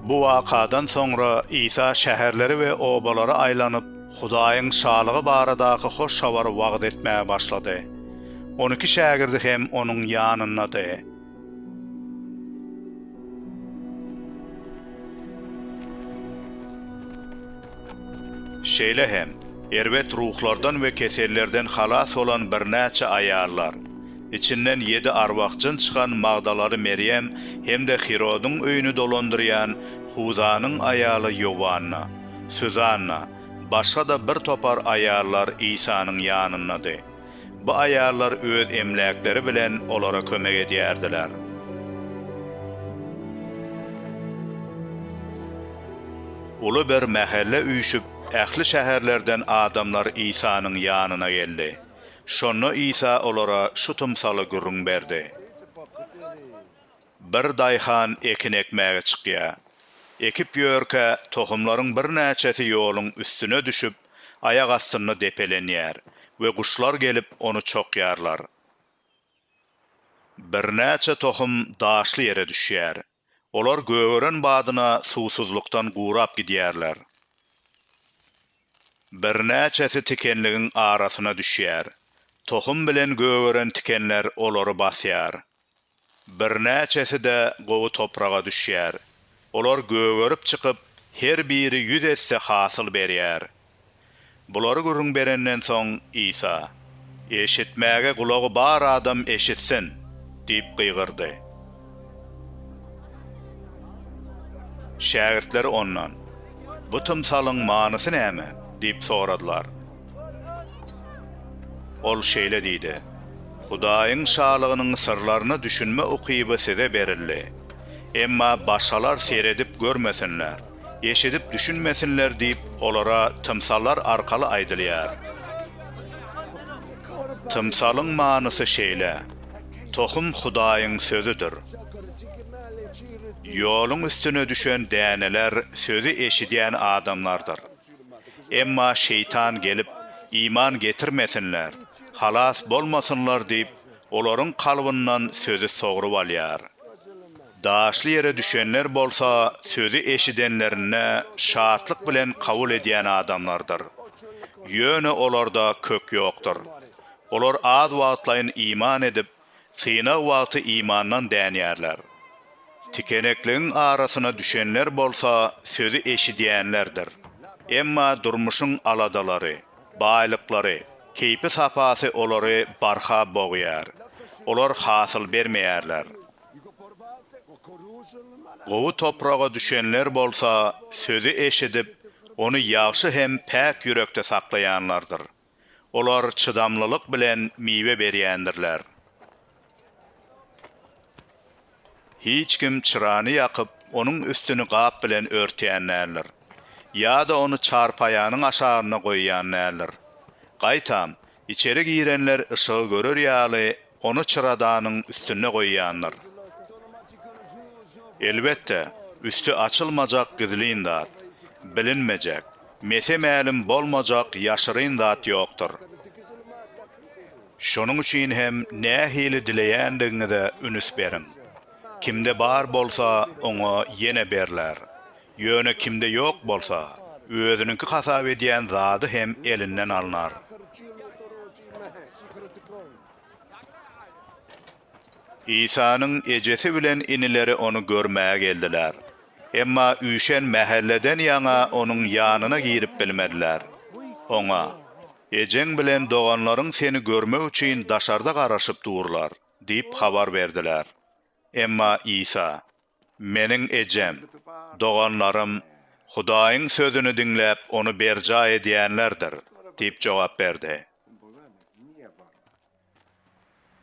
Bu wakadan soňra Isa şäherleri we obalary aýlanyp, Hudaýyň Şalygy baradaky hoş habary wagyz etmäge başlady. On iki şägirdi hem onuň ýanyndady. Şeýle hem, erbet ruhlardan we kesellerden halas bolan birnäçe aýallar, içinden ýedi arwah-jyn çykan Magdalaly Merýem hem-de Hirodyň öýüni dolandyrýan Huzanyň aýaly Ýowanna, Suzanna, başga-da birtopar aýallar Isanyň ýanyndady. Bu aýallar öz emläkleri bilen olara kömek edýärdiler. Uly bir mähelle üýşüp, ähli şäherlerden adamlar Isanyň ýanyna geldi. Şonda Isa olara şu tymsaly gürrüň berdi. Bir daýhan ekin ekmäge çykýar. Ekip ýörkä, tohumlaryň birnäçesi ýoluň üstüne düşüp, aýak astynda depelenýär we guşlar gelip, ony çokýarlar. Birnäçe tohum daşly ýere düşýär. Olar gögeren badyna suwsuzlykdan gurap gidýärler. Birnäçesi tikenligiň arasyna düşýär. Tohum bilen gögeren tikenler olary basýar. Birnäçesi-de gowy topraga düşýär. Olar gögerip çykyp, her biri ýüz esse hasyl berýär. Bulary gürrüň berenden soň, Isa, Eşitmäge gulagy bar adam eşitsin! diýip gygyrdy. Şägirtleri Ondan, Bu tymsalyň manysy näme? diýip soradylar. Ol şeýle diýdi, Hudaýyň Şalygynyň syrlaryna düşünme ukyby size berildi. Emma başgalar seredip görmesinler, eşidip düşünmesinler diýip, olara tymsallar arkaly aýdylýar. Tymsalyň manysy şeýle, Tohum Hudaýyň Sözüdir. Ýoluň üstüne düşen däneler sözi eşidýän adamlardyr. Emma Şeýtan gelip, iman getirmesinler, halas bolmasynlar diýip, olaryň kalbyndan sözi sogrup alýar. Daşly ýere düşenler bolsa sözi eşidenlerinde şatlyk bilen kabul edýän adamlardyr. Ýöne olarda kök ýokdur. Olar az wagtlaýyn iman edip, Synag wagty imandan dänýärler. Tikenekligiň arasyna düşenler bolsa sözi eşidýänlerdir. Emma durmuşyň aladalary, baýlyklary, keýpi-sapasy olary barha bogýar. Olar hasyl bermeýärler. Gowy topraga düşenler bolsa sözi eşidip, ony ýagşy hem päk ýürekde saklaýanlardyr. Olar çydamlylyk bilen miwe berýändirler. Hiç kim çyrany ýakyp, onuň üstüni gap bilen örtýän däldir. Ýa-da ony çarpaýanyň aşagynda goýýan däldir. Gaýtam, içeri girenler yşygy görer ýaly, ony çyradanyň üstünde goýýandyr. Elbetde, üsti açylmajak gizlin zat, bilinmejek, mese mälim bolmajak ýaşyryn zat ýokdur. Şonuň üçin hem nähili dileýändigiňize ünüs beriň. Kimde bar bolsa, oňa ýene berler, ýöne kimde ýok bolsa, özüniňki hasap edýän zady hem elinden alnar. Isanyň ejesi bilen inileri ony görmäge geldiler. Emma üýşen mähelleden ýaňa onuň ýanyna girip bilmediler. Oňa, Ejeň bilen doganlaryň seni görmek üçin daşarda garaşyp durlar diýip habar berdiler. Emma Isa, Meniň ejem, doganlarym Hudaýyň sözüni diňläp, ony berjaý edýänlerdir diýip jogap berdi.